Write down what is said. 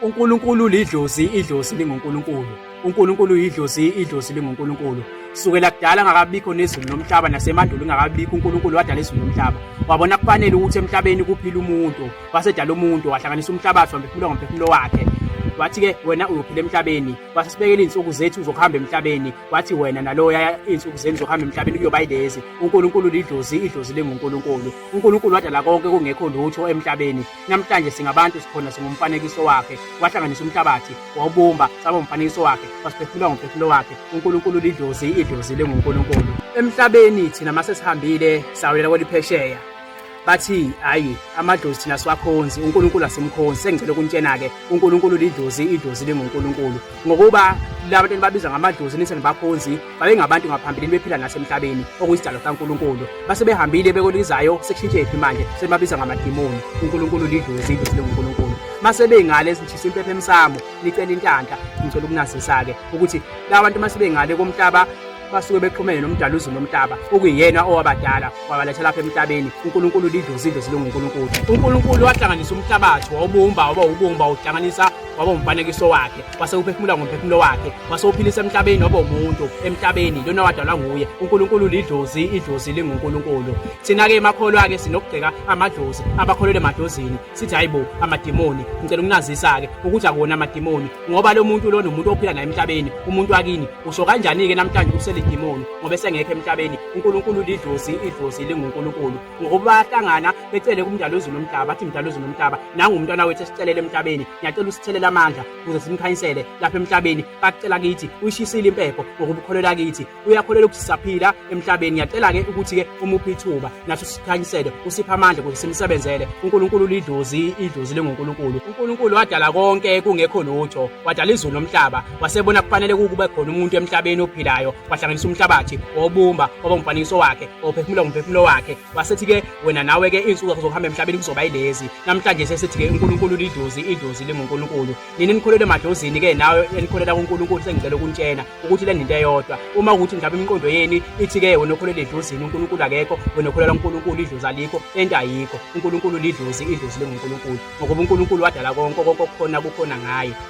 uNkulunkulu lidlozi idlozi linguNkulunkulu uNkulunkulu yidlozi idlozi linguNkulunkulu sukela kudala ngakabikho nezulu nomhlaba nasemandulo ngakabikho uNkulunkulu wadala izulu nomhlaba wabona kufanele ukuthi emhlabeni kuphila umuntu wasedala umuntu wahlanganisa umhlabathi wamphefumulo ngomphefumulo wakhe wathi-ke wena uyophila emhlabeni wase sibekela iy'nsuku zethu zokuhamba emhlabeni wathi wena naloya iy'nsuku zenu zokuhamba emhlabeni kuyoba yilezi unkulunkulu lidlozi idlozi lingunkulunkulu uNkulunkulu wadala konke kungekho lutho emhlabeni namhlanje singabantu sikhona singumfanekiso wakhe wahlanganisa umhlabathi wawubumba saba umfanekiso wakhe wasiphefumula ngomphefumulo wakhe uNkulunkulu lidlozi idlozi linguNkulunkulu emhlabeni thina mase sihambile sawulela kweliphesheya bathi hayi amadlozi thina siwakhonzi uNkulunkulu asimkhonzi sengicela ukuntshena ke uNkulunkulu lidlozi idlozi linguNkulunkulu ngokuba labantu babiza ngamadlozi nithi nibakhonzi babengabantu ngaphambilini bephila nasemhlabeni okuyisidalo sikaNkulunkulu base behambile bekolizayo sekushintshephi manje sebabiza ngamadimoni uNkulunkulu lidlozi idlozi linguNkulunkulu mase bengale sishisa impepha emsamo nicela intanta ngicela ukunazisa-ke ukuthi la bantu mase bengale komhlaba basuke bexhumene nomdala uzulu nomhlaba okuyena owabadala wabaletha lapha emhlabeni uNkulunkulu lidlozi idlozi linguNkulunkulu uNkulunkulu wahlanganisa umhlabathi wawubumba waba ubumba uhlanganisa waba umfanekiso wakhe wase uphefumula ngomphefumulo wakhe wase uphilisa emhlabeni waba umuntu emhlabeni lona wadalwa nguye uNkulunkulu lidlozi idlozi linguNkulunkulu thina ke emakholwa ke sinokugceka amadlozi abakholele emadlozini sithi hayibo amadimoni ngicela ukunazisa ke ukuthi akuwona amadimoni ngoba lo muntu lona umuntu ophila naye emhlabeni umuntu wakini usho kanjani ke namhlanje uselidimoni ngoba esengekho emhlabeni uNkulunkulu lidlozi idlozi linguNkulunkulu ngokuba bayahlangana becele kumdala wezulu nomhlaba bathi mdala wezulu nomhlaba nangu umntwana wethu esicelele emhlabeni ngiyacela usithelela amandla ukuze simkhanyisele lapha emhlabeni bakucela kithi uyishisile impepho ngokuba ukholelwa kithi uyakholelwa ukuthi sisaphila emhlabeni ngiyacela-ke ukuthi-ke umuphe ithuba nathi usikhanyisele usiphe amandla ukuze simsebenzele unkulunkulu lidlozi idlozi lengunkulunkulu unkulunkulu wadala konke kungekho lutho wadala izulu nomhlaba wasebona kufanele kukube khona umuntu emhlabeni ophilayo wahlanganisa umhlabathi wobumba waba umfanekiso wakhe ophefumula ngumphefumulo wakhe wasethi-ke wena nawe-ke iy'nsuku zakho zokuhamba emhlabeni kuzoba yilezi namhlanje sesithi-ke unkulunkulu lidlozi idlozi lingunkulunkulu nini nikholelwe emadlozini-ke nawe enikholela kunkulunkulu sengicela ukuntshena ukuthi le nto eyodwa uma ukuthi mhlawumbe imiqondo yeni ithi-ke wena okholela edlozini unkulunkulu akekho wena okholela unkulunkulu idlozi alikho ento ayikho unkulunkulu lidlozi idlozi lingunkulunkulu ngokuba unkulunkulu wadala konke konke okukhona kukhona ngaye